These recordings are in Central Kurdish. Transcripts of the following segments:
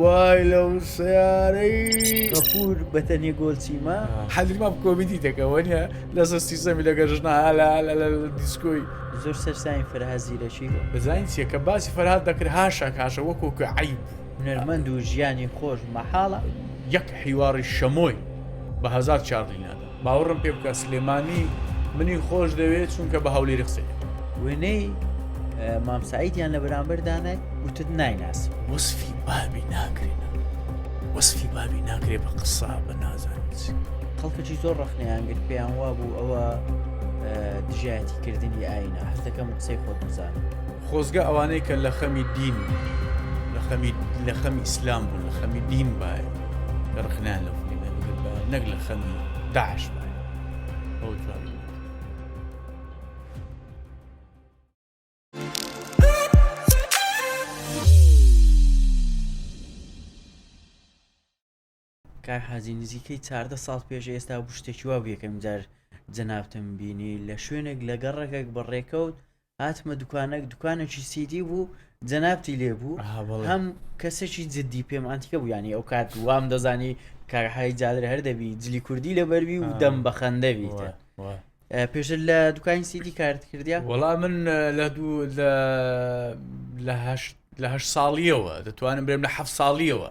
وای لەو سەیارەی غەفور بە تەنێ گۆل چیمە. حەدری مام کۆمیدی دەکە وەنیە لە زەستی زەمی لەگە ژنە هالا لە دیسکۆی زۆر سەرساین فەرها زیرەکی بەزانین چیە کە باسی فەرهاد دەکرد هاشە کاشە وەکۆ کە عیب هونەرمەند و ژیانی خۆش مەحاڵە یەک حیواڕی شەمۆی بە هەزار چارلی نادا. باوەڕم پێ بکە سلێمانی منی خۆش دەوێت چونکە بە هەولێری قسەی وێنەی مام سعیدیان لە بەرامبەر دانای وتت نایناس وەسفی بابی ناکرێن وەسفی بابی ناکرێ بە قسە بە نازانیت خەڵکەی زۆر ڕخنیان گرت پێیان وا بوو ئەوە دژایەتی کردنی ئاینا هەستەکەم قسەی خۆت بزانم خۆزگە ئەوانەی کە لە خەمی دین لە خەمی لە خەمی ئیسلام بوون لە خەمی دین باە لە ڕخنان لە نەک لە خەمی داعش ئەو جوانی کاک حاجی نزیکەی چاردە ساڵ پێش ئێستا بوو شتێکی وا بوو یەکەم جار جەنابتم بینی لە شوێنێک لە گەڕەکێک بە ڕێکەوت هاتمە دوکانێک دوکانێکی سیدی بوو جەنابتی لێ بوو ئەها بەڵێ. هەم کەسێکی جددی پێم ئەنتیکە بوو ینی ئەو کات وام دەزانی کارهای جادر هەر دەبی جلی کوردی لە بەربی و آه. دەم بە خەندەوی وای، وای. پێشتر لە دوکانی سیدی کارت کردیا وەڵا من اه، لە دوو لە لە هەشت لە هەشت ساڵیەوە دەتوانم برێم لە حەفت ساڵیەوە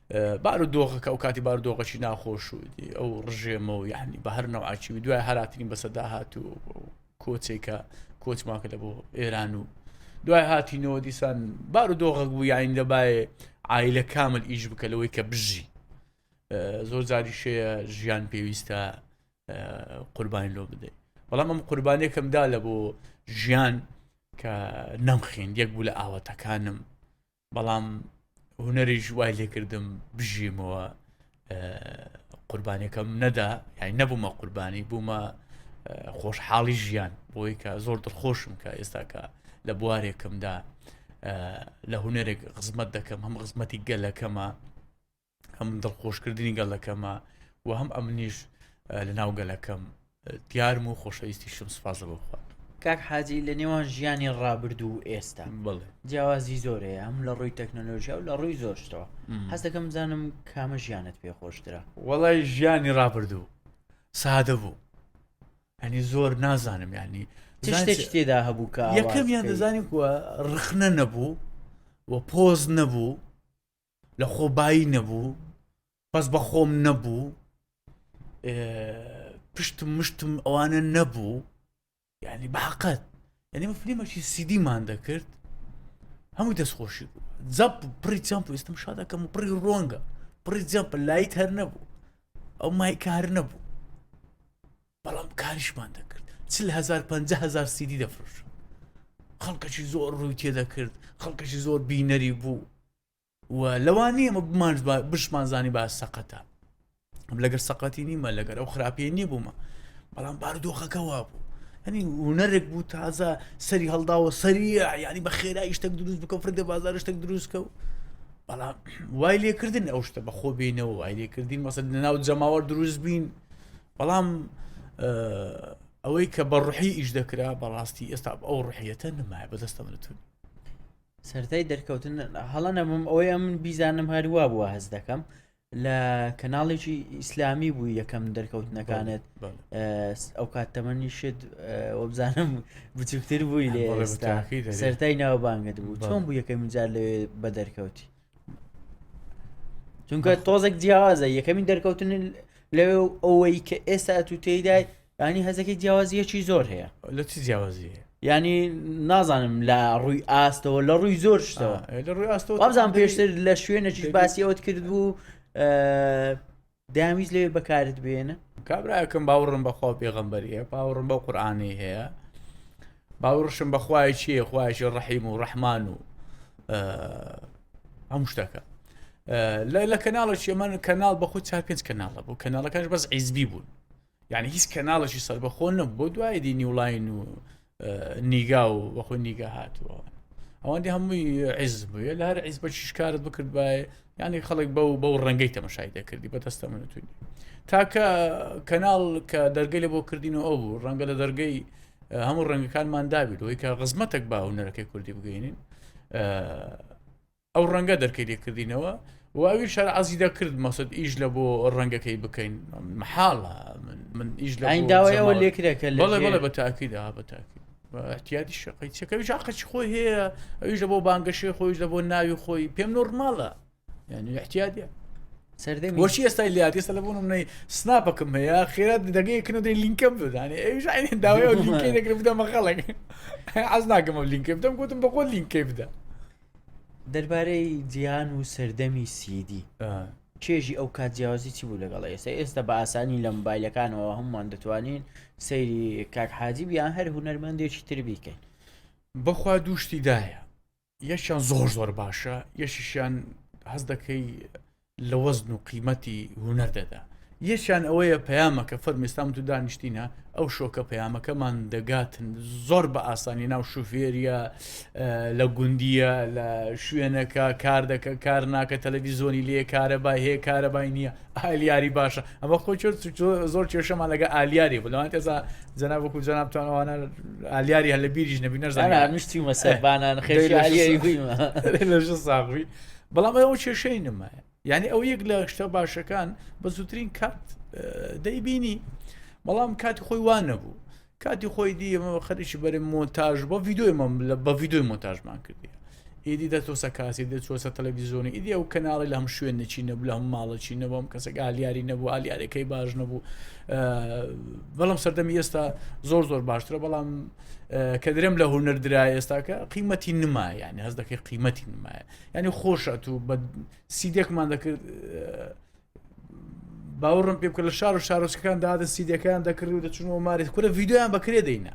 بارو دۆخەکە ئەو کاتی بارو دۆخەی ناخۆش و ئەو ڕژێمە و یعنی بە هەر نەوعچی و دوای هەراتنی بەسە داهات و کۆچێکە کۆچماکە لە بۆ ئێران و دوای هاتینەوە دیسان بار و دۆغک بوو یاین دەبایە ئایلە کامل ئیش بکە لەوەی کە بژی زۆر جاری شەیە ژیان پێویستە قوربانی لۆ بدەیت بەڵام ئەم قوربانێکمدا لە بۆ ژیان کە نەمخین یەک بوو لە ئاواتەکانم بەڵام هونەریش وای لێکردم بژیمەوە قوربانەکەم نەدا یای نەبوومە قوربانی بوومە خۆشحاڵی ژیان بۆی کە زۆر دڵخۆشم کە ئێستاکە لە بوارێکمدا لە هونەرێک خزمەت دەکەم هەم خزمەتی گەلەکەمە هەم دڵخۆشکردنی گەڵەکەمە و هەم ئەمنیش لە ناو گەلەکەم دیارم و خۆشەویستی شم سوپازە بۆ بخوات کاک حاجی لە نێوان ژیانی ڕابرد و ئێستا بڵێ جیاوازی زۆرەیە هەم لە ڕووی تەکنەلۆژیا و لە ڕووی زۆرشتەوە حەزەکەم زانم کامە ژیانت پێ خۆشترە وەڵای ژیانی ڕابردوو سادە بوو ئەنی زۆر نازانم ینی شتێک تێدا هەبوو کە یەکەمیان دەزانانی کووە ڕخنە نەبوو و پۆز نەبوو لە خۆ بایی نەبوو بەس بە خۆم نەبوو پشتم مشتم ئەوانە نەبوو یعنی بەحقەت یعنی من فلیمەکی سیدیمان دەکرد هەمووی دەستخۆشی بوو زەپ پڕی چەمپ ئێستم شادەکەم و پڕی ڕۆنگە پڕی جەمپ لایت هەر نەبوو ئەو مایکە هەر نەبوو بەڵام کاریشمان دەکرد چل هزار پنج هزار سیدی دەفرۆش خەڵکەشی زۆر ڕووی تێدەکرد خەڵکەشی زۆر بینەری بوو و لەوانی ئەمە بمانش بشمان زانی با سەقەتە لەگەر سەقەتی نیمە لەگەر ئەو خراپی نیبوومە بەڵام بارودۆخەکە وا بوو هەنی هوەرێک بوو تازە سەری هەڵداوە سەریە ینی بە خێرا شتێک دروست بکە فرگە بازار شتێک دروستکە و بەڵام وای لێکردن ئەو شتە بەخۆ بینەوە وای لێکردین مەسەر لە ناو جەماوە دروست بین بەڵام ئەوەی کە بە ڕحی ئیش دەکرا بەڕاستی ئێستا ئەو ڕحیەتە نمایە بەدەستە منتون سەرای دەرکەوتن هەڵە نەبم ئەوەی ئەم بیزانم هەروە بووە هەز دەکەم لە کەناڵێکی ئیسلامی بوو یەکەم دەرکەوتنەکانت ئەو کات تەمەنی شت وەبزانم بچووکتر بووی لێ سەرای ناوبانگت بوو چۆن بوو یەکەم جار لەوێ بە دەرکەوتی چونکە تۆزێک جیاوازە یەکەمین دەرکەوتن لەوێ و ئەوەی کە ئێستا تو تێدای ینی هەزەکی جیاوازیەکی زۆر هەیە لە چی جیاوازی ینی نازانم لە ڕووی ئاستەوە لە ڕووی زۆر شتەوە لە ڕووی ئاستەوە بابزان پێشتر لە شوێنەکیش باسی ئەوت کرد بوو دەیانویست لەوێ بەکارت بێنن کابراکەم باوڕم بەخوا پێغمبەریە باوڕم بە قورآانی هەیە باوڕشم بەخوای چیە خوایشی ڕحیم و ڕەحمان و هەم شتەکە لە لە کەناڵە چێمەن کەناڵ بە خود چار پێنج کەناڵە بوو کەناڵەکەش بەس عیزبی بوون یعنی هیچ کەناڵێکی سەربەخۆ نەبوو بۆ دوای دی نیولاین و نیگا و بەخۆی نیگە هاتووە ئەوەندی هەمووی عیز بووە لە هەر عیز بە شکارت بکرد باە یعنی خەڵک بەو بەو ڕەنگەی تەمەشای دەکردی بە دەستە منتونی تاکە کەناڵ کە دەرگەی لە بۆ کردین و ئەو بوو ڕەنگە لە دەرگەی هەموو ڕەنگەکانمان دابیت ئەوی کە ڕزمەتێک با هوەرەکەی کوردی بگەینین ئەو ڕەنگە دەرکەی لێ کردینەوە و ئەوی شەر عزی دەکرد مەسد ئیش لە بۆ ڕەنگەکەی بکەین محاڵە من ئیش لە داوایەوە لێکرێکە لەڵێ بە تاکی دا بە تاکی احتیادی شقی چەکەوی شاقەچ خۆی هەیە ئەویش لە بۆ بانگەشەی خۆیش لە بۆ ناوی خۆی پێم نۆرماڵە یعنی احتیادە سەردەی بۆچی ئێستای لات ئێستا لە بوون منەی سناپەکەم هەیە خێرا دەگەیەکن و دەی لینکەم بدانێ ئەوش عین داوای لینکەی دەکرد بدەمە خەڵک عز ناکەمە لینکەی بدەم گوتم بەخۆ لینکەی بدە دەربارەی جیهان و سەردەمی سیدی چێژی ئەو کات جیاوازی چی بوو لەگەڵ ئێستا ئێستا بە ئاسانی لە مبایلەکانەوە هەمووان دەتوانین سەیری کاک حاجی بیان هەر هوەرمەندێکی تر بیکەین بەخوا دووشتی دایە یەکیان زۆر زۆر باشە یەشیشیان هەز دەکەی لە وەزن و قیمەتی هونەر دەدا یەکیان ئەوەیە پەیامەکە فەرمیستان تو دانیشتینە ئەو شۆکە پەیامەکەمان دەگاتن زۆر بە ئاسانی ناو شوفێریە لە گوندیە لە شوێنەکە کار دەکە کار ناکە تەلەڤیزۆنی لێ کارە با هەیە کارەبای نییە ئالیاری باشە ئەمە خۆ زۆر کێشەمان لەگە ئالیاری بلوان تێزا جەناب وەکو جەنابتانوانە ئالیاری هەل لە بیریش نەبی نەزانانی مشتی مەسەبانان خێ ساغوی بەڵام ئەوە کێشەی نمایە یعنی ئەو یەک لە شتە باشەکان بە زووترین کات دەیبینی بەڵام کاتی خۆی وانە بوو کاتی خۆی دیمە خەریکی بەرە مۆنتاژ بە ویددیوی مەم لە بە ویددیوی مۆنتاژمان کردی ئیدی دەتۆسە کاسی دەچۆسە تەلەڤیزیۆنی ئیدی ئەو کەناڵی لە هەم شوێن نەچی نەبوو لە هەم ماڵەچی نەبووم کەسێک ئالیاری نەبوو ئالیارەکەی باش نەبوو بەڵام سەردەمی ئێستا زۆر زۆر باشترە بەڵام کە درێم لە هونەر درا ئێستاکە قیمەتی نمایە یعنی هەز دەکەی قیمەتی نمایە یعنی خۆش ئەتوو بە سیدێکمان دەکرد باوەڕم پێ بکە لە شار و شارۆچەکان دادە سیدەکان دەکرد و دەچون و مارێت کورە ڤیددیویان بەکرێ دەینە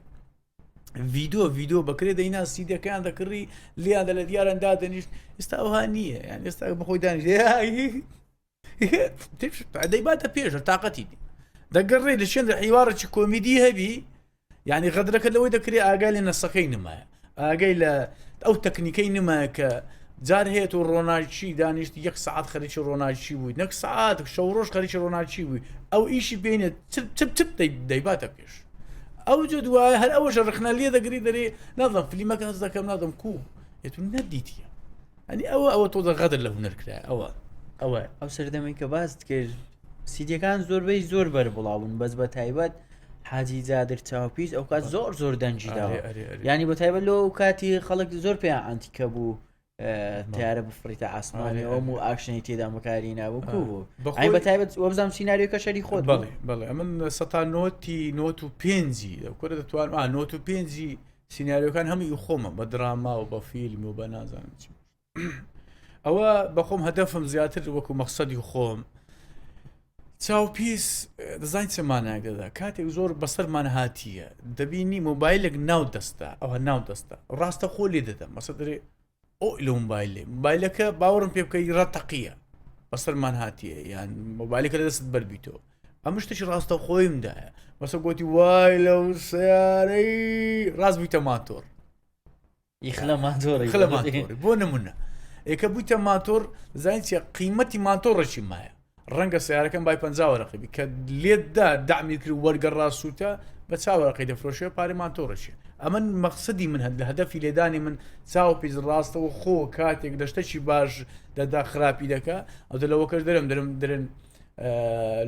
ڤیدۆ ڤیدۆ بەکرێ دەینا سیدەکان دەکڕی لیان دە لە دیاران دادەنیشت ئستا ئەوها نییە یان ئێستا بەخۆی دانیش دەیباتە پێشە تااقەتی دی دەگەڕێ لە شوێن لە حیواڕێکی کۆمیدی هەبی یعنی غەدرەکە لەوەی دەکرێت ئاگای لە نەسەکەی نمایە ئاگەی لە ئەو تەکنیکەی نمایە کە جار هەیە و ڕۆناچی دانیشت یەک سعات خەرکی ڕۆناچی بووی نەک سعات شەو ڕۆژ خەرکی ڕۆناچی بووی ئەو ئیشی بینێ دەیباتە پێش ئەو جە دوایە هەر ئەوەش ڕخنە لێ دەگری دەری نازم فلیمەکە هەز دەکەم نادەم کو یتون نەدیتە ئەنی ئەوە ئەوە تۆزە غەدر لە هونەر کرا ئەوە ئەوە ئەو سەردەمەی کە باست کرد سیدیەکان زۆربەی زۆر بەر بڵاون بەس بە تایبەت حاجی زیادر چاوپیس ئەو کات زۆر زۆر دەنجی داوە ینی بە تایبەت لەو کاتی خەڵک زۆر پێیان ئەنتیکە بوو تیارە بفریتە ئاسمانی ئەوم و ئاکشنی تێدا بەکاری ناوەکو بوو بەخۆی بە تایبەت وەبزانام سینناریۆکە شەری خۆت بڵێ بڵێ من سە نۆتی نۆت و پێنجی کورە دەتوان نۆت و پێنجی سیناریۆکان هەموو ئی خۆمە بە دراما و بە فیلم و بە نازانم چی ئەوە بەخۆم هەدەفم زیاتر وەکو مەخصدی خۆم چاو پیس دەزانین چەمانایک دەدا کاتێک زۆر بەسەرمان هاتیە دەبینی مۆبایلێک ناو دەستە ئەوە ناو دەستە ڕاستە خۆ لێ دەدەم مەسە دەێ ئۆ لەو مبایلێ مبایلەکە باوەڕم پێ بکە ڕە تەقیە بەسەرمان هاتیە یان مۆبایلەکە لە دەست بەربییتەوە ئەم شتێکی ڕاستە خۆیمدایە بەسە گوتی وای لەو سیارەی ڕاست بوویتە ماتۆر یخلە ماتۆری خلە ماتۆری بۆ نمونە ئێکە بوویتە ماتۆر زانین چیە قیمەتی ماتۆڕێکی مایە ڕەنگە سیارەکەم بای پەنجا وەرەقی بی کە لێتدا دامی کرد وەرگەڕا سووتە بە چاوەڕقی دەفرۆشێ پارێمان تۆڕەشێ ئەمن مەقصدی من هەر لە هەدەفی لێدانی من چاو پیز ڕاستەوە خۆ کاتێک دەشتەکی باش دەدا خراپی دەکە ئەو لەوە کەش درم درم درن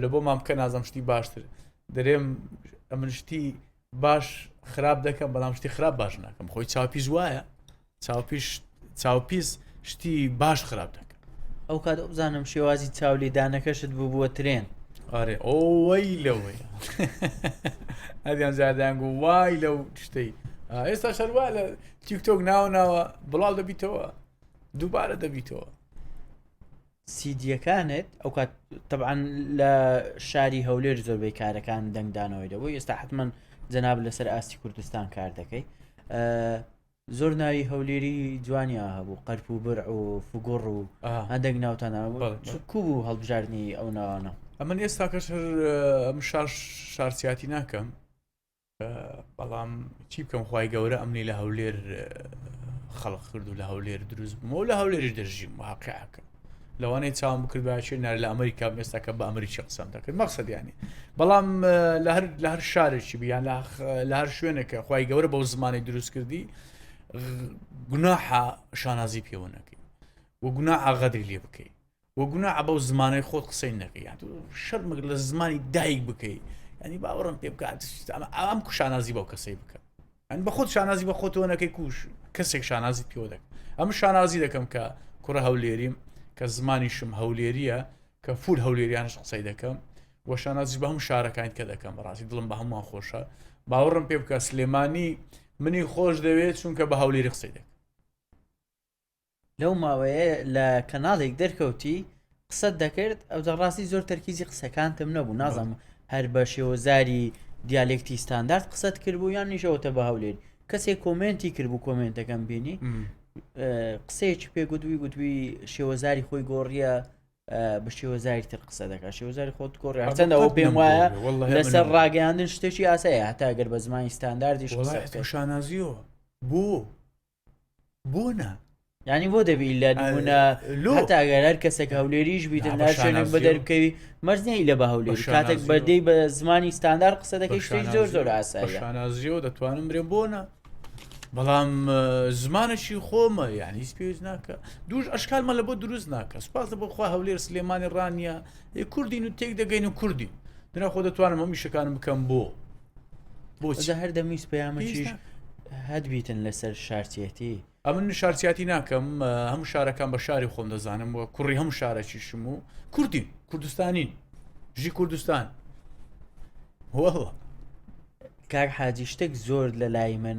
لە بۆ مامکە نازم شتی باشتر درێم ئەمن شتی باش خراپ دەکەم بەڵام شتی خراپ باش ناکەم خۆی چاپیش وایە چاپیش چاوپیس شتی باش خراپ دەکەم ئەو کات بزانم شێوازی چاولێدانەکەشت بوو بووە ترێن ئارێ ئەوەی لەوەی ئەدیان زیادیان گو وای لەو شتەی ئێستا شەروا لە تیکتۆک ناو ناوە بڵاو دەبیتەوە دووبارە دەبیتەوە سیدیەکانت ئەوکات تەبعەن لە شاری هەولێر زۆربەی کارەکان دەنگدانەوەی دەبوو ئێستا حتممەن جەناب لەسەر ئاستی کوردستان کار دەکەی زۆر ناوی هەولێری جوانیا هەبوو قەرپ و بر و فگوڕ و هەندێک ناوتان کو بوو هەڵبژاردننی ئەو ناوانە ئەمن ئێستاکەش هەر ئەم شار شارسیاتی ناکەم بەڵام چی بکەم خی گەورە ئەمنی لە هەولێر خەڵق کرد و لە هەولێر دروست بوومەوە لە هەولێری دەژیم واقعەکە لەوانەیە چاوم بکرد باشێ نار لە ئەمریکا مێستاکە بە ئەمریکی قسەم دەکرد مەقصدیانی بەڵام لە هەر لە هەر شارێکی بیان لە هەر شوێنێکە خی گەورە بەو زمانی دروست کردی گوناحە شانازی پێوەنەکەی و گوناحە غەدری لێ بکەیت وە گوناحە بەو زمانەی خۆت قسەی نەکەی یان تۆ شەرمەکە لە زمانی دایک بکەی ینی باوەڕم پێ بکات ئەمە ئەم کوشانازی بەو کەسەی بکە ئەن بە خۆت شانازی بە خۆتەوە نەکەی کوش کەسێک شانازی پێوە دەکە ئەم شانازی دەکەم کە کوڕە هەولێریم کە زمانیشم هەولێریە کە فول هەولێریانش قسەی دەکەم وە شانازی بە هەم شارەکان کە دەکەم بەڕاستی دڵم بە هەمووان خۆشە باوەڕم پێ بکە سلێمانی منی خۆش دەوێت چونکە بە هەولێری قسەی دەکەم لەو ماوەیە لە کەناڵێک دەرکەوتی قسەت دەکرد ئەوجا ڕاستی زۆر تەرکیزی قسەکانتم نەبوو نازانم هەر بە شێوەزاری دیالێکتی ستاندارد قسەت کردبوو یان نیشەوەتە بە هەولێر کەسێک کۆمنتی کردبوو کۆمنتەکەم بینی قسەیەکی پێگوتوی گوتوی شێوەزاری خۆی گۆڕیە بە شێوەزاری تر قسە دەکات شێوەزاری خۆت گۆڕی هەرچەندەوە پێم وایە لەسەر ڕاگەیاندن شتێکی ئاسایە هەتاگەر بە زمانی ستانداردیش شانازیەوە بۆ بۆ نا ینی بۆ دەبی لە نمونە لۆ تاگەر هەر کەسێک هەولێریش بیت ناشێنێک بە دەرکەوی مەرزنی لە بە هەولێر کاتێک بەدەی بە زمانی ستاندار قسە دەکەی شتێک زۆر زۆر ئاسایشانازیەوە دەتوانم برێن بۆ نە بەڵام زمانەشی خۆمە یعنی هیچ پێویست ناکە دوش ئەشکالمە لە بۆ دروست ناکە سپاسە بۆ خوا هەولێر سلێمانی ڕانیە کوردین و تێک دەگەین و کوردی دنا خۆ دەتوانم هەم میشەکانم بکەم بۆ بۆچە هەر دەمویست پەیامەکیش هەت بیتن لەسەر شارچێتی ئەمن شارچیاتی ناکەم هەموو شارەکان بە شاری خۆم دەزانم و کوڕی هەموو شارەکیشم و کوردی کوردستانی ژی کوردستان وەڵە کار حاجی شتێک زۆر لە لای من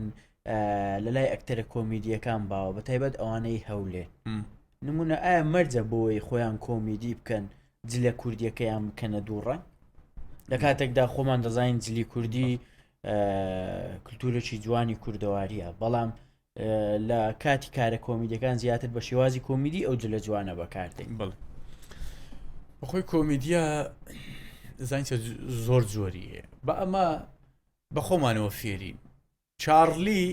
لە لای ئەکتەرە کۆمیدیەکان باوە بە تایبەت ئەوانەی هەولێ نمونە ئایا مەرجە بۆی خۆیان کۆمیدی بکەن جلە کوردیەکەیان بکەنە دوو ڕەنگ لە کاتێکدا خۆمان دەزانین جلی کوردی کللتورێکی جوانی کوردەواریە بەڵام لە کاتی کارە کۆمیدەکان زیاتر بە شێوازی کۆمیدی ئەو جلە جوانە بەکاردێن بڵ بەخۆی کۆمیدیا زانچە زۆر زۆری هەیە بە ئەمە بە خۆمانەوە فێرین چارلی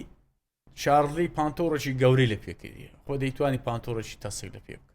شارلی پانتۆڕێکی گەورەی لە پێکردی خۆ دەیتوانی پانتۆڕێکی تەسک لە پێ بکە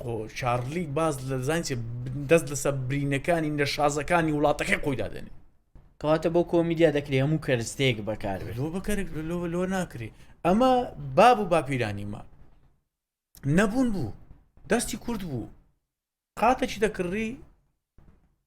خۆ چارلی باز لە زانچێ دەست لەسەر برینەکانی نەشازەکانی وڵاتەکەی خۆیدا دێنێ کەواتە بۆ کۆمیدیا دەکرێ هەموو کەرستێک بەکار لۆ بەکەر لۆ لۆ ناکرێ ئەمە باب و باپیرانیمە نەبوون بوو دەستی کورد بوو قاتەکی دەکڕی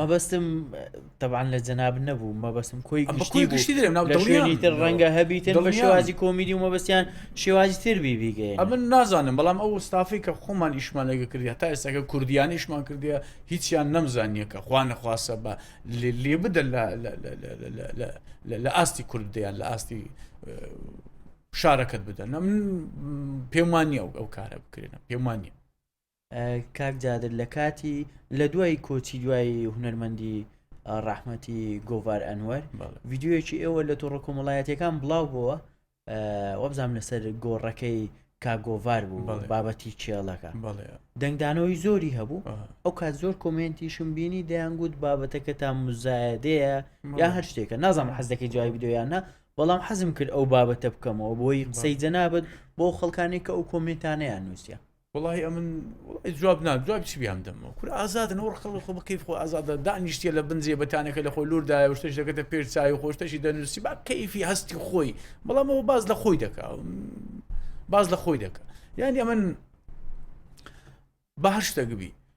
مەبەستم تەبان لە جەناب نەبوو مەبەستم کۆی گشتی گشتی دەێم ناو دڵنیانی تر ڕەنگە هەبیتن بە شێوازی کۆمیدی و مەبەستیان شێوازی تر بیبیگەی ئەمن نازانم بەڵام ئەو ستافی کە خۆمان ئیشمان لەگە کردیا تا ئێستاکە کوردیانیشمان کردیا هیچیان نەمزانیەکە خوا نەخواسە بە لێ بدە لە ئاستی کورد دەیان لە ئاستی شارەکەت بدەن من پێمانی ئەو ئەو کارە بکرێنە پێمانە کاک جادر لە کاتی لە دوای کۆچی دوای هونەرمەندی ڕەحمەتی گۆڤار ئەنوەر ویددیوەکی ئێوە لە تۆڕە کۆمەڵایەتەکان بڵاو بووە وەبزانام لەسەر گۆڕەکەی کاگۆڤار بوو بابەتی کێڵەکە دەنگدانەوەی زۆری هەبوو ئەو کات زۆر کۆمنتیشم بینی دەیانگووت بابەتەکە تا مزایەدەیە یا هەر شتێکە نازم حەزەکەی جوای بدۆیانە بەڵام حەزم کرد ئەو بابەتە بکەمەوە بۆی قسەی جەنابەت بۆ خەڵکانی کە ئەو کۆمنتانیان نووسە وەڵاهی ئەمن وەڵای جواب نام جواب چی بیان دەمەوە کورە ئازادن ئەو ڕقڵ خۆ بکەیف خۆ ئازادە دانیشتە لە بنجێ بەتانەکە لە خۆی لوردایە و شتەش دەکەتە پێش چای و خۆشتەشی دەنووسی با کەیفی هەستی خۆی بەڵام ئەوە باز لە خۆی دەکا باز لە خۆی دەکە یعنی ئەمن بە هەر شتەکبی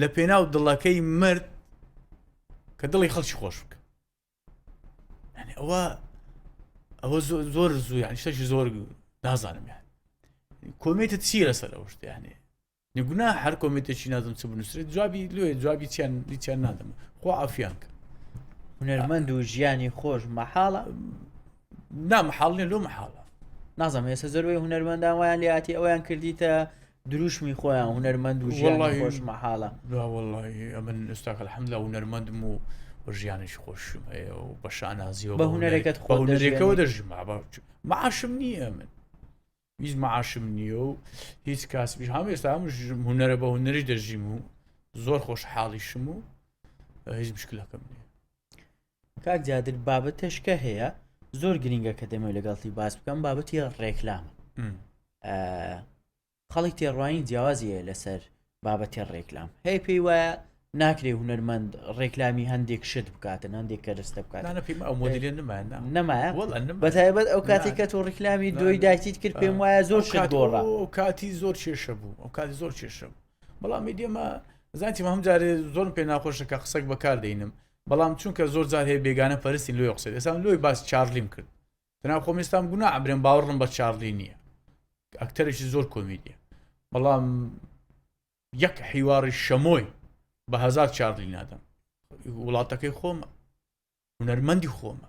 لە پێناو دڵەکەی مرد کە دڵی خەڵکی خۆش بکە ئەوە ئەوە زۆر زوو یان شتێکی زۆر نازانم یان کۆمێتە چی لەسەر ئەو شتیانێ نگونا هەر کۆمێتێکی نازم چ بنووسێت جوابی لێ جوابی چیان دیچیان نادەم خۆ ئافیان کە هونەرمەند و ژیانی خۆش مەحاڵە نامحاڵێن لۆ مەحاڵە نازانم ێسە زەروی هونەرمەندان وایان لێاتی ئەویان کردیتە دروشمی خۆیان هونەرمەند و ژیانی خۆش مەحاڵە وڵی ئەمن ئستاک الحەمدا هونەرمەندم و بە ژیانش خۆشم هەیە و بە شانازیەوە بە هونەرەکەت خۆ هونەرێکەوە دەژم معاشم نییە من هیچ معاشم نییە و هیچ کاسبیش هەم ئێستا هەم هونەرە بە هونەری دەژیم و زۆر خۆش حاڵیشم و هیچ مشکلەکەم نیە کاک جادر بابەتەشکە هەیە زۆر گرنگە کە دەمەوێت لەگەڵتی باس بکەم بابەتی ڕێکلام خەڵی تێڕوانی جیاوازیە لەسەر بابەتی ڕێکلام هەیە پێی وایە ناکرێ هوەرمەند ڕێکلامی هەندێک شت بکاتن هەندێک کەرستە بکات نەمایە بەتایبەت ئەو کاتێک کە تۆ ڕیکلامی دوی داکیت کرد پێم وایە زۆر شت گۆڕا ئەو کاتی زۆر کێشە بوو ئەو کاتی زۆر کێشە بوو بەڵام ئێمە زانتی هەم جارێ زۆر پێ ناخۆشە کە قسەک بەکاردەینم بەڵام چونکە زۆر جار هەیە بێگانە پەرستی لۆیە قسەی ئێسام لۆی باس چارلیم کرد تەناو خۆم ئێستام گونا عبرێن باوەڕم بە چارلی نییە ئەکتەرێکی زۆر کۆمیدیە بەڵام یەک حیواری شەمۆی بە هزار چارلی نادەم وڵاتەکەی خۆمە هونەرمەندی خۆمە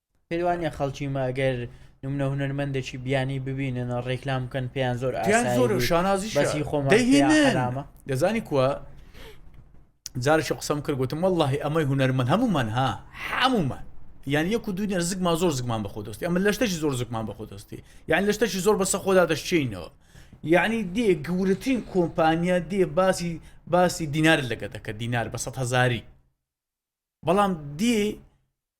پێت وانیە خەڵکی مە گەر نمونە هونەرمەندێکی بیانی ببینن ڕێکلام بکەن پێیان زۆر پێیان ئاسایی زۆر و بوو. شانازی بەسی خۆمان پێیان دەهینن حەرامە. دەزانی کووە جارێکی قسەم کرد گوتم واللهی ئەمەی هونەرمەند هەمومان ها هەمومان یان یەک و دوو نێر زگمان زۆر زگمان بەخۆ دەستی ئەمە لەشتەشی زۆر زگمان بەخۆ دەستی یان لەشتەشی زۆر بەسە خۆدا دەشچینەوە یعنی دێ گەورەترین کۆمپانیا دێ باسی باسی دینار لەگە دەکە دینار بە سە هزاری بەڵام دێ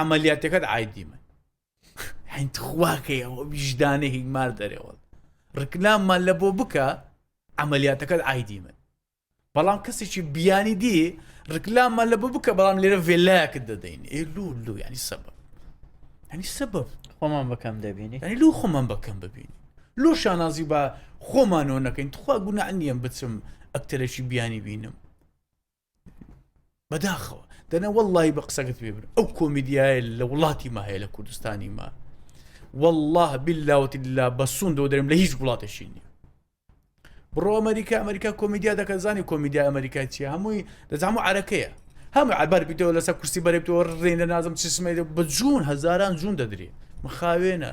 عملیاتەکەت ئایدی من هەین تخواکەیەوە ویژدانە هیمار دەرێەوە ڕکلاممان لە بۆ بکە عملیاتەکەت ئایدی من بەڵام کەسێکی بیانی دی ڕکلاممان لە بۆ بکە بەڵام لێرە ڤێلایەکت دەدەین ئێ لو لو ینی سەبە هەنی سەبە خۆمان بەکەم دەبینی هەنی لو خۆمان بەکەم ببینی لۆ شانازی بە خۆمانەوە نەکەین تخوا گونا نیەم بچم ئەکتەرێکی بیانی بینم بەداخەوە دەنە وەڵی بە قسەکەت پێ بن ئەو کۆمیدیایە لە وڵاتی ما هەیە لە کوردستانی ما والله باللاوەتی لا بەسون دۆ دەرم لە هیچ وڵاتێکی نیە بڕۆ ئەمریکا ئەمریکا کۆمیدیا دەکەن زانی کۆمیدیا ئەمریکا چیە هەمووی دەزانام و عرەکەیە هەم عبار بیتەوە لەسە کورسی بەرێتەوە ڕێنە نازم چسمێت بە جوون هەزاران جوون دەدرێ مخاوێنە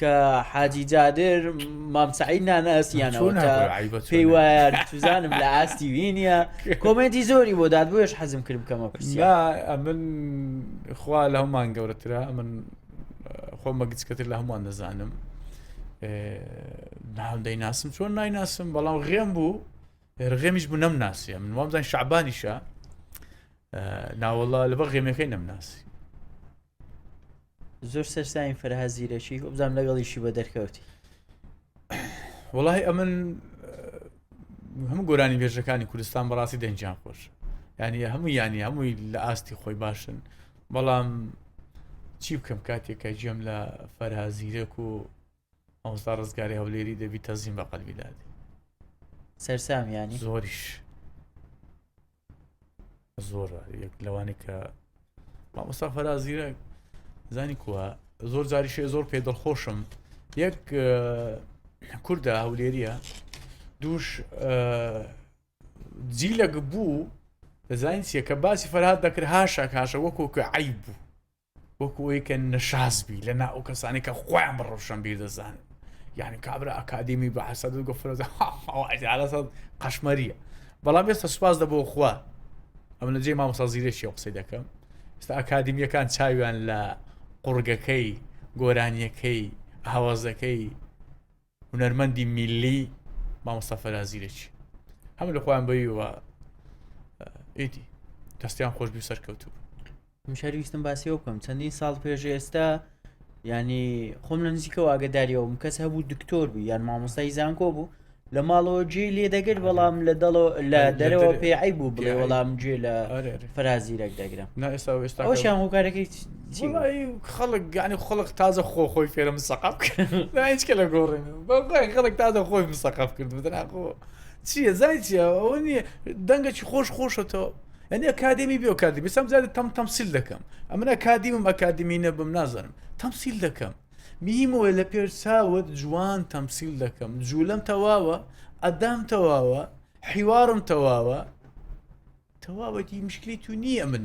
کە حاجی جادر مام سعید نانە ئەسیانەوە چۆن کە هەبوو عیبە چۆن پێی وایە توزانم لە ئاستی وی نییە کۆمێنتی زۆری بۆ داد بۆیش حەزم کرد بکەمە پرسیار نا ئەمن خوا لە هەمان گەورەترە ئەمن خۆمە گچکەتر لە هەمووان دەزانم ناو دەیناسم چۆن نایناسم بەڵام غێم بوو ڕغێمیش بوو نەمناسیە من وابزان شعبانیشە ناوەڵا لە بە غێمەکەی نەمناسی زۆر سەرساین فەرها زیرەکی وبزانام لەگەڵیشی بە دەرکەوتی وڵی ئەمن هەموو گۆرانی بێژەکانی کوردستان بەڕاستی دەنجیان خۆش ینی هەموو ینی هەمووی لە ئاستی خۆی باشن بەڵام چی بکەم کاتێکە جێم لە فەرها زیرەک و ئەوستا ڕزگاری هەولێری دەبی تەزیم بە قەلبی دادی سەرسامیانی زۆریش زۆر یەک لەوانی کە مامۆستا فەرازیرە زانی کووە زۆر جاریشێ زۆر پێ دڵخۆشم یەک کووردا هەولێریە دووش جیلەک بوو دەزانین چیە کە باسی فەرهاد دەکرد هاشاک هاشە وەکۆکە عیب بوو وەکو ئەوەی کە نەشاز بی لە ناو کەسانی کە خۆیان بە ڕەوشەنبیر دەزانن یعنی کابرا ئەکادیمی بە حەسەد و گەفرەزە قەشمەریە بەڵام ئێستا سوپاس دەبەوە خوا ئەم لە جێ مامۆسا زیرەکی قسەی دەکەم ئستا ئەکادیمیەکان چاویان لە قڕگەکەی گۆرانیەکەی هاوازەکەی هونەرمەندی میللی مامۆستا فەرا زیرەکی هەم لە خۆیان بەویوە ئیدی دەستیان خۆش بی سەرکەوتوو مشارویستم باسی ئەو بکەم چەندین ساڵ پێش ئێستا ینی خۆم لە نزیکەوە ئاگداریەوەم کەس هەبوو دکتۆر بوو یان مامۆستای زانکۆ بوو لە ماڵەوە جێ لێ دەگر بەڵام لە دەڵەوە لە دەرەوە پێعی بوو بڵێ وەڵام جێ لە فەرازیرەک دەگرم ئەوشیان هۆکارەکەی وەڵایی خەڵک گانی خەڵک تازە خۆ خۆی فێرە مسەقف هیچکە لە گۆڕین بەڵی خەڵک تازە خۆی مسەقف کرد بدناخۆ چیە زای چیە ئەوە نیە دەنگەکی خۆش خۆشەتەوە ئەنی ئەکادمی بێ کادی بسم زیاد تەم تەمسیل دەکەم ئەمن ئەکادیمم ئەکادمی نەبم نازانم تەمسیل دەکەم میمەوە لە پێر چاوت جوان تەمسیل دەکەم جوولم تەواوە ئەدام تەواوە حیوارم تەواوە تەواوەتی مشکلی تو نییە من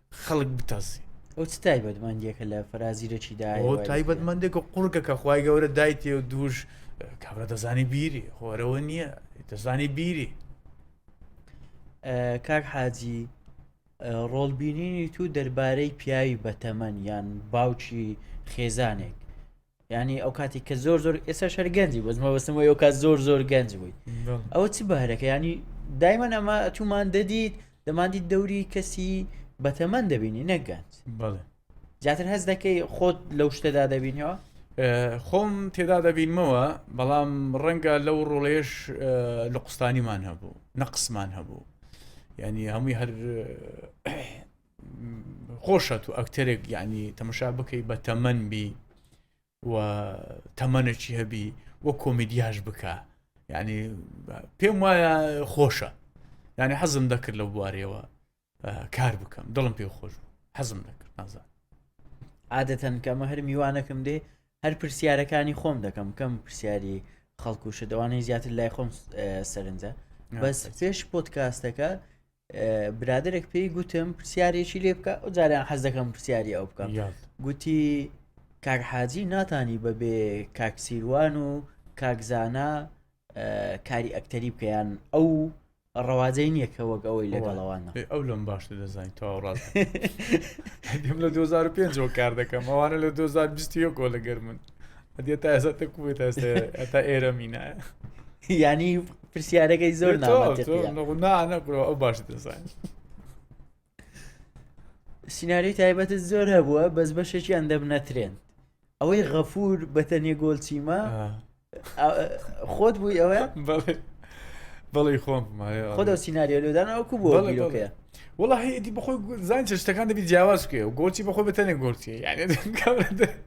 خەڵک بتەزی. ئەو چ تایبەتمەندیەکە لە فەرازیرەکی دا ئەو تایبەتمەندێکە قوڕگەکە خخوای گەورە دایتێ و دووش کابرا دەزانی بیری خۆرەوە نییە دەزانی بیری کاک حاجی ڕۆڵبینینی تو دەربارەی پیاوی بەتەمەن یان باوکی خێزانێک یانی ئەو کاتی کە زۆر زۆر ئێستا شەر گەنجی بەس مەبستم ئەو کات زۆر زۆر گەنج بووی ئەوە چ بەهرەکە ینی دایمەن ئەمە ئەچوومان دەدیت دەماندی دەوری کەسی بەتەمەەن دەبینی نەگەنج زیاتر هەز دەکەی خۆت لەو شتەدا دەبینەوە خۆم تێدا دەبینمەوە بەڵام ڕەنگە لەو ڕۆڵێش لە قوستانیمان هەبوو نەقسمان هەبوو ینی هەمووی هەر خۆشە تو ئەکتەرێک یعنی تەمەشا بکەی بە تەمەەن بی و تەمەەکی هەبی وە کۆمیدیاش بکە یعنی پێم وایە خۆشە یعنی حەزم دەکرد لە بوارەوە کار بکەم دڵم پێ خۆش حەزم دەکرد نازان عادەتەن کەمە هەر میوانەکەم دێ هەر پرسیارەکانی خۆم دەکەم کەم پرسیاری خەڵکوشە دەوانەی زیاتر لای خۆم سەرنجە بەس پێش پۆتکاستەکە برادێک پێی گوتم پرسیارێکی لێ بکە ئەو جاریان حەز دەکەم پرسیاری ئەو بکەم گوتی کاک حاجی ناتانی بەبێ کاکسیروان و کاکزانە کاری ئەکتەری بکەیان ئەو ڕەواجەی نییە کە وەک ئەوەی لەگەڵەوان ئەو لەم باشتر دەزانین تەواو ڕاست لە 2005 کار دەکەم ئەوانە لە 2020 کۆ لەگەر من ئەدێ تا ئێستا تەکوێت تا ئێرە مینایە ینی پرسیارەکەی زۆر سینناریۆی تایبەت زۆر هەبووە بەس بەشێکیان دەبنە ترێن ئەوەی غەفور بەتەنێ گۆلچیمە خۆت بووی ئەوە بەڵی خۆم خۆدا سینناریۆ لەدان ئەوکو بووە بیرۆکەیە وڵی ئیدی بخۆی زان چشتەکان دەبی جیاواز بکەێ و گۆچی بەخۆی بەتەنێ گۆچی یعنی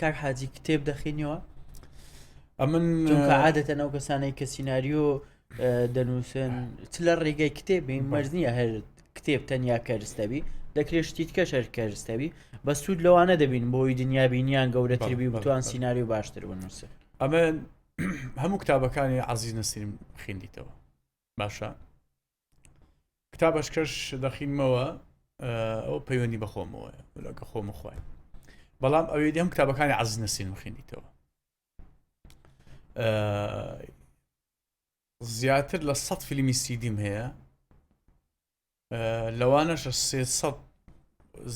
کاک حاجی کتێب دەخینیەوە ئەمن چونکە عادەتەن ئەو کەسانەی کە سینناریۆ دەنووسن چ لە ڕێگەی کتێبی مەرز نییە هەر کتێب تەنیا کەرستەبی دەکرێت شتیت کە شەر کەرستەبی بە سوود لەوانە دەبین بۆی دنیا بینیان گەورەتربی بتوان سینناریۆ باشتر بنووسن ئەمە هەموو کتابەکانی عزیز نەسریم خیندیتەوە باشە کتابەشکەش دەخینمەوە ئەو پەیوەندی بەخۆمەوە لەکە خۆم خۆی بەڵام ئەوێ دەم کتابەکانی عز نەسین مخینیتەوە زیاتر لە سە فیلمی سیدیم هەیە لەوانەش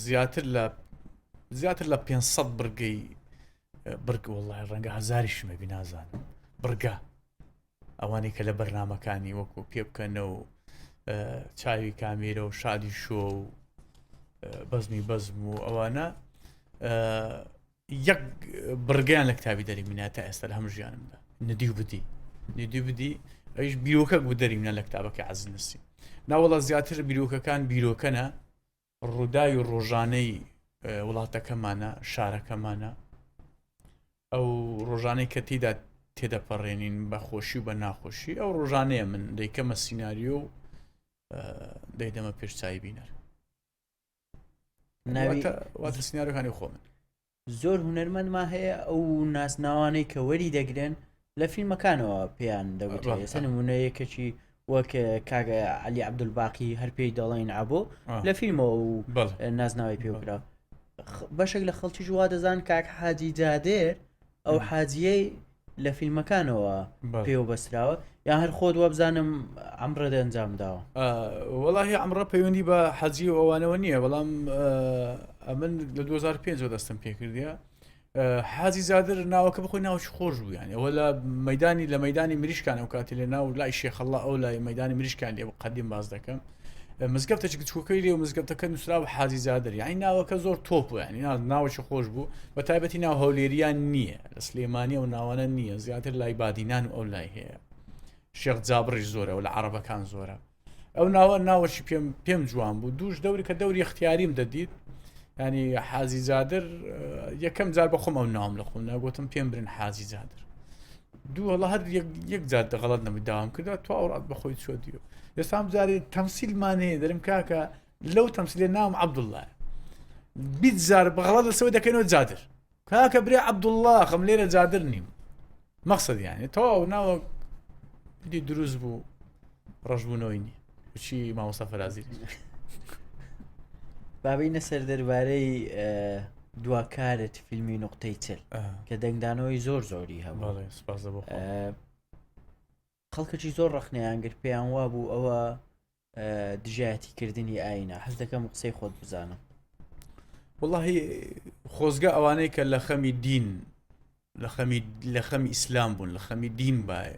زیاتر لە زیاتر لە 500 بڕگەی بڕگە وڵی ڕەنگە هزاری شمەبی نازانم بڕگە ئەوانەی کە لە بەرنمەکانی وەکو پێبکەنە و چاوی کامیرە و شادی شۆ و بەزمی بەزم و ئەوانە یەک بڕگەیان لە کتابی دەری منە تا ئێستا هەم ژیانمدا ندی و بدی ندی بدی ئەیش بیرۆکە بوو دەری منە لە کتابەکە عزنسی ناوەڵە زیاتر بیرۆکەکان بیرۆکەنە ڕووداوی ڕۆژانەی وڵاتەکەمانە شارەکەمانە ئەو ڕۆژانەی کە تیدا تێدەپەڕێنین بە خۆشی و بە ناخۆشی ئەو ڕۆژانەیە من دەیکەمە سینناریۆ و دەیدەمە پێشچوی بینەر ناوی سناارەکانی خۆ من زۆر هونەرمەندمان هەیە ئەو ناسناوانەی کە وەری دەگرن لە فیلمەکانەوە پێیان دەگوترێت ڕاستە. ئێستا نمونە یەکەکی وەک کاگە علی عبدولباقی هەر پێی دەڵێن عبۆ آه. لە فیلمەوە و بەڵێ نازناوی بەڵێ. پێوکرا بەشێک لە خەڵکی جووا دەزان کاک حاجی جادێر ئەو مم. حاجیەی لە فیلمەکانەوە پێوە بەسراوە یا هەر خۆت وابزانم ئەمڕێت ئەنجام داوە وەڵی ئەمڕە پەیوەندی بە حەجی و ئەوانەوە نییە بەڵام ئەمن لە 2005 دەستم پێکردە حازی زادر ناوەکە بخۆی ناوچ خۆش بوویان ئەوە لە مەدانی لە مەدانی مریشکان و کاتی لە ناو لای شێخەڵە ئەو لای مەدانی مریشکان لێ قدیم باز دەکەم مزگەفتە چکچووکەی لێ و مزگەفتەکە نووسرا و حازی زادر یعنی ناوەکە زۆر تۆپ و ینی ناوچ خۆش بوو بە تایبەتی ناو هەولێریان نییە لە سلێمانی ئەو ناوانە نییە زیاتر لای بادینان و ئەو لای هەیە شێخ جابڕیش زۆرە و لە عربەکان زۆرە ئەو ناوە ناوەشی پێم پێم جوان بوو دووش دەوری کە دەوری اختیاریم دەدیت ینی حازی زیادر یەکەم جار بەخۆم ئەو ناوم لە خۆم ناگوتم پێم برن حازی زیادر دوو هەڵە هەر یەک جار دەغڵت نەبوو داوام کردە تو ئەوڕات بەخۆی چۆ دیو ئێستام جارێ تەمسیلمانەیە دەرم کاکە لەو تەمسیلێ ناوم عبدوڵە بیت زار بەغڵات لەسەوە دەکەنەوە زیادر کاکە برێ عبداللە خم لێرە جادر نیم مەخصد یانێ تەواو ناوە دی دروست بوو ڕژبوونەوەی نی چی ماوەسە فەرازی بابینە سەر دەربارەی دواکارت فیلمی نقطەی چل کە دەنگدانەوەی زۆر زۆری هەم سپاس خەڵکەکی زۆر ڕەخنەیان گرت پێیان وابوو ئەوە دژایەتی کردنی ئاینە حەز دەکەم قسەی خۆت بزانم وڵی خۆزگە ئەوانەی کە لە خەمی دین لە خەمی لە خەمی ئیسلام بوون لە خەمی دین باە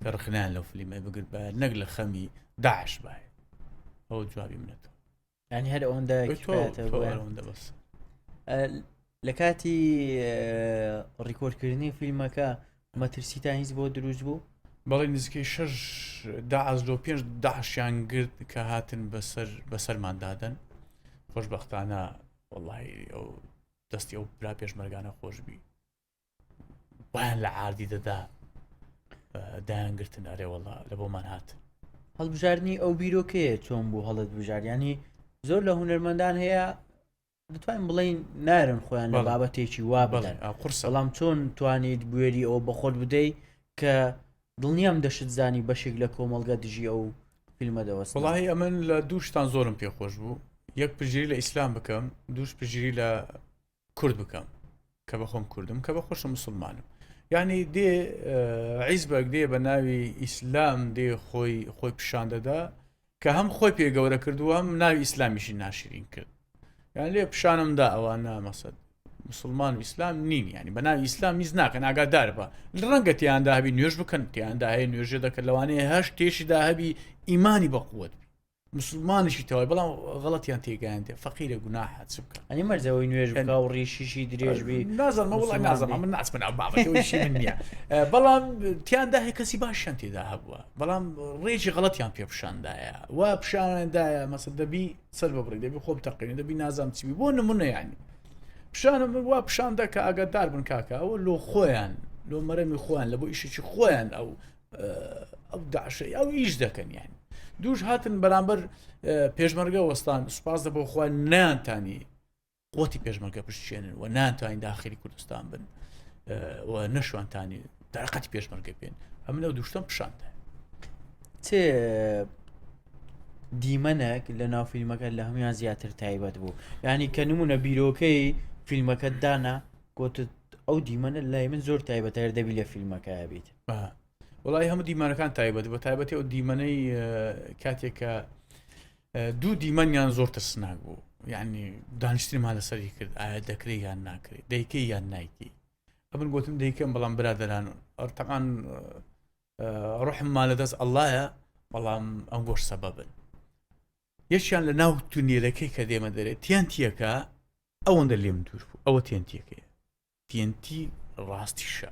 کە ڕخنان لەو فلیمە بگرت باە نەک لە خەمی داعش باە ئەو جوابی منێتەوە ینی هەر ئەوەندە لە کاتی ڕیکۆردکردنی فیلمەکە مەترسی تا هیچ بۆ دروست بوو بەڵی نزیکەی شش داعز لۆ پێنج داعشیان گرت کە هاتن بەسەر بەسەرماندادن خۆشببختانە وڵی ئەو دەستی ئەو برا پێشمەرگانە خۆشببی وایان لە عادی دەدا دایان گرتن ئەرێوەڵا لە بۆمان هات هەڵبژاردننی ئەو بیرۆکەیە چۆن بوو هەڵت بژاریانی زۆر لە هوەرمەندان هەیە دەتوانین بڵین نارن خۆیان لە بابەتێکی وا بڵێن قرس بەڵام چۆن توانیت بوێری ئەو بەخۆت بدەیت کە دڵنیام دەشت زانی بەشێک لە کۆمەلگە دژی ئەو فیلمە دەوەست وڵی ئەمن لە دووشتان زۆرم پێخۆش بوو یەک پژیری لە ئیسلام بکەم دووش پژیری لە کورد بکەم کە بە خۆم کوردم کە بە خۆشە مسلمانم یعنی دێ عیزبەک دێ بە ناوی ئیسلام دێ خۆی خۆی پیشان دەدا کە هەم خۆی پێ گەورە کردووە هەم ناوی ئیسلامیشی ناشرین کرد یان لێ پیشانمدا ئەوە نامەسەد مسلمان و ئیسلام نین ینی بە ناوی ئیسلام میز ناکەن ئاگادار بە ڕەنگە تیاندا هەبی نوێژ بکەن تیاندا هەیە نوێژە دەکەن لەوانەیە هەش تێشیدا هەبی ئیمانی بەقوت مسوڵمانیشی تەواوی بەڵام غەڵەتیان تێگەیاندێ فەقیرە گوناحە چ بکە ئەنی مەرجەوەی نوێژ بکا و ڕیشیشی درێژ بی نازانمە وڵی نازم من ناچمن ئەو بابەتەوەیشی من نییە بەڵام تیاندا هەیە کەسی باشیان تێدا هەبووە بەڵام ڕێکی غەڵەتیان پێ پیشاندایە و پیشانەندایە مەسە دەبی سەر بەبڕی دەبی خۆم تەقین دەبی نازام چوی بۆ نمونەیانی پیشانە من وا پیشاندە کە ئاگادار بن کاکە ئەوە لۆ خۆیان لۆ مەرەمی خۆیان لە بۆ ئیشێکی خۆیان ئەو ئەو داعشەی ئەو ئیش دەکەن یانی دووش هاتن بەرامبەر پێشمەرگە وەستان سوپاس دە بۆ خۆیان نیانتانی قوتی پێشمەرگە پشتێنن و نانتوانین داخلی کوردستان بن و نەشوانتانی داقەتی پێشمەرگە پێن ئەم لەو دوشتم پیششاندا چێ دیمەنێک لە ناو فیلمەکە لە هەمویان زیاتر تایبەت بوو ینی کە نمونە بیرۆکەی فیلمەکە دانا گوتت ئەو دیمەنە لای من زۆر تایبەتەر دەبی لە فیلمەکە بیت وڵی هەموو دیمانەکان تایبەت بە تایبەتی ئەو دیمەنەی کاتێکە دوو دیمەنیان زۆر ترسناک بوو یعنی دانیشتمان لەسەری کرد ئایا دەکرێت یان ناکرێت دەیکەی یان نایکی ئەمن گوتم دەیکەم بەڵام برادران ئەرتەقان ڕحممان لە دەست ئەللایە بەڵام ئەم گۆش سەبە بن یەکیان لە ناو تونێلەکەی کە دێمە دەرێت تیان تیەکە ئەوەندە لێم دوور بوو ئەوە تێنتیەکەی TNT ڕاستیشە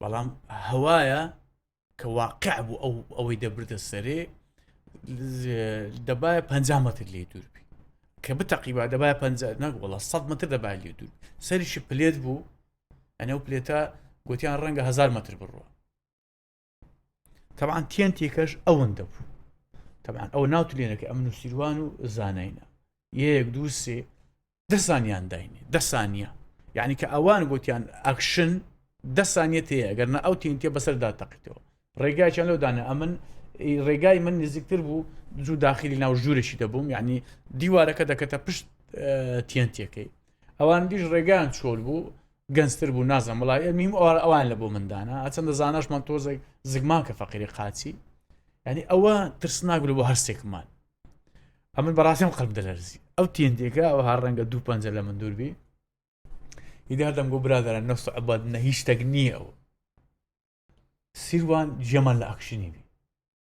بەڵام هەوایە کە واقع بوو ئەو ئەوەی دەبردە سەرێ دەبایە پ متر لێ دووربی کە بتەقیبا دەبای پ نەگوڵە 100 متر دەبای لێ دوور سەریشی پلێت بوو ئەنە و پلێتە گوتیان ڕەنگە هزار متر بڕوە تەعاان تێنتێکەش ئەوەندە بوو تەعاان ئەو ناوتلێنەکە ئەم نووسیروان و زانینە یەک دوو سێ دەسانیان داینێ دەسانە یعنی کە ئەوان گوتیان ئەکشن دەسانێت هەیە گەر نە ئەو تینتە بەسەردا تەقیتەوە ڕێگایان لەودانە ئەمن ڕێگای من نزیکتر بوو زوو داخلی ناو ژوورێکی دەبووم یعنی دیوارەکە دەکەتە پشت تێنتەکەی ئەوان دیش ڕێگان چۆل بوو گەنجتر بوو نازم وڵای ئەمیم ئەوان لە بۆ مندانە ئەچەندە زاناشمان تۆزێک زگمان کە فەقیری قاچی ینی ئەوە ترسناک بوو بۆ هەرسێکمان ئەمن بەڕاستیم قەلب دەلەرزی ئەو تێندێکە ئەو هەر ڕەنگە دوو پەنجە لە من دووربی ئیدادەم گۆ برادرە نەست عباد نە هیچ شتێک نییە ئەو سیروان جێمان لە ئەکشنی بی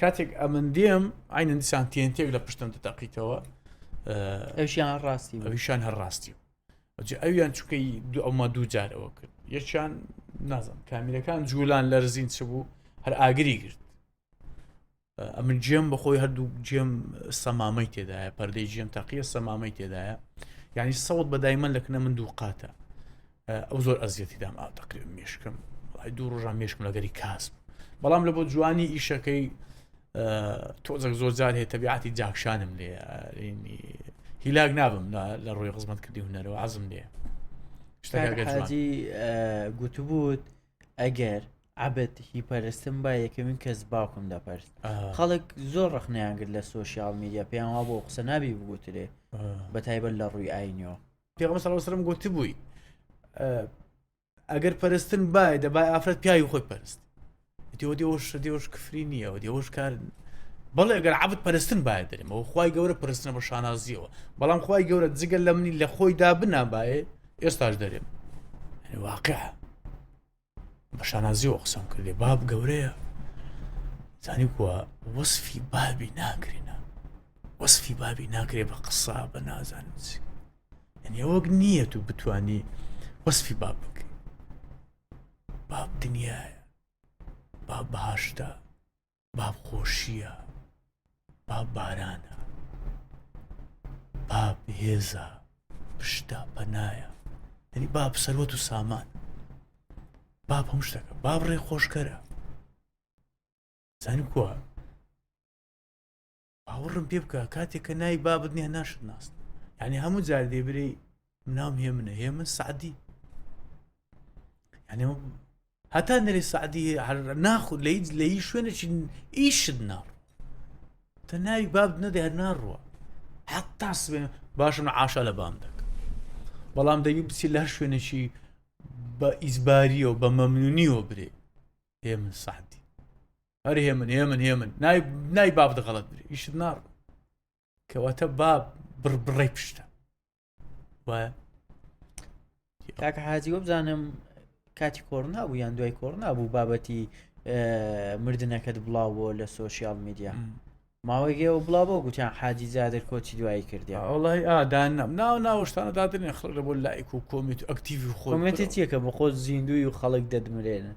کاتێک ئەمن دێم ئاینە دیسان تێنتێک لە پشتم دەتەقیتەوە ئەوشیان ڕاستی ئەوشان هەر ڕاستی ئەجێ ئەویان چکەی دو ئەوما دوو جار ئەوە کرد یەکیان نازم کامیرەکان جوولان لەرزین چ بوو هەر ئاگری گرت ئەمن جێم بەخۆی هەردوو جێم سەمامەی تێدایە پەردەی جێم تەقیە سەمامەی تێدایە یعنی سەوت بەدای من لەکنە من دوو قاتە ئەو زۆر ئەزیەتی دام ئاو تەقری مشکم وڵی دوو ڕژان مشکم لەگەری کاس بوو بەڵام لە بۆ جوانی ئیشەکەی تۆزەک زۆر جار هەیە تەبیعاتی جاکشانم لێ هیلاک نابم لە ڕووی خزمەت کردی هوەرەوە عزم لێ شتاجی گوتبووت ئەگەر عبد هی پەرستم با یەکەمین کەس باوکم دەپەرست خەڵک زۆر ڕخنیان کرد لە سوۆسیال میدیا پێیان وا بۆ قسە نابی بگوترێ بە تایبەت لە ڕووی ئاینەوە پێغەمبەر صلی اللە علیه و سلم گوتبووی ئەگەر پەرستن بای دەبای ئافرەت پیاوی خۆی پەرست دیۆ دیۆش دیۆش کفری نییە و دیۆش کار بەڵێ ئەگەر عبد پەرستن باە دەرم و خی گەورە پرستنە بە شانازیەوە بەڵام خی گەورە جگەل لە منی لە خۆیدا بنابایێ ئێستاش دەرێم واقع بە شانازیەوە قسەم کردێ باب گەورەیە زانی کووە وەصفی بابی ناکرێنە وەصفی بابی ناکرێ بە قسە بە نازانچ یعنی وەک نییە و بتانی وەصفی باب بکەین باب دنیاە باب بەهاشتا با خۆشییە با بارانە با بهێزە پشتە پەنایە دەنی با سەروەت و سامان با هەم شتەکە با بڕێ خۆشکەرە زانکووە باوەڕم پێ بکە کاتێک کە ناوی بابت نیە ناشت ناست یعنی هەموو جار دێ برێ منام هێ منە هێ من سعدی یعنی هەتا نەری سعدی ناخود لە هیچ لە هیچ شوێنێکی ئیشت ناڕ تە ناوی باب نەدە هەر ناڕوە حتا سبێن باشم عاشا لە بام دەک بەڵام دەوی بچی لە شوێنێکی بە ئیزباریەوە بە مەمنونیەوە برێ هێ من سعدی هەر هێمن هێمن هێمن نای نای باب دەغڵت درێ ئیشت ناڕ کەواتە با بڕ بڕێ پشتە وایە کاکە حاجی وە بزانم کاتی کۆڕ نابوو یان دوای کۆڕ نابوو بابەتی مردنەکەت بڵاوەوە لە سوۆسیال میدیا ماوەیگەەوە بڵا بۆ گوتیان حاجی زیادر کۆچی دوایی کردی ئەڵی ئادان نم ناو ناوەشتانە دادرێن خڵ لە بۆ لایک و کۆمیت ئەکتیوی خۆمەتی چیەکە بە خۆ زیندوی و خەڵک دەدمرێنن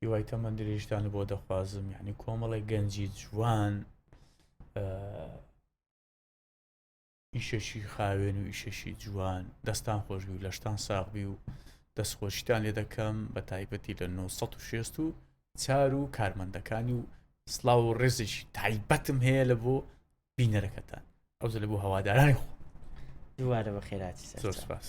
هیوای تەمەن درێژتان بۆ دەخوازم یعنی کۆمەڵی گەنجی جوان ئیشەشی خاوێن و ئیشەشی جوان دەستان خۆشبی و لەشتان ساغبی و دەستخۆشیتان لێ دەکەم بە تایبەتی لە 1960 و چار و کارمەندەکانی و سلااو و ڕێزش تایبەتم هەیە لە بۆ بینەرەکەتان ئەو زلە بۆ هەوادارانی خۆ دووارە بە خێراتی زۆر سپاس.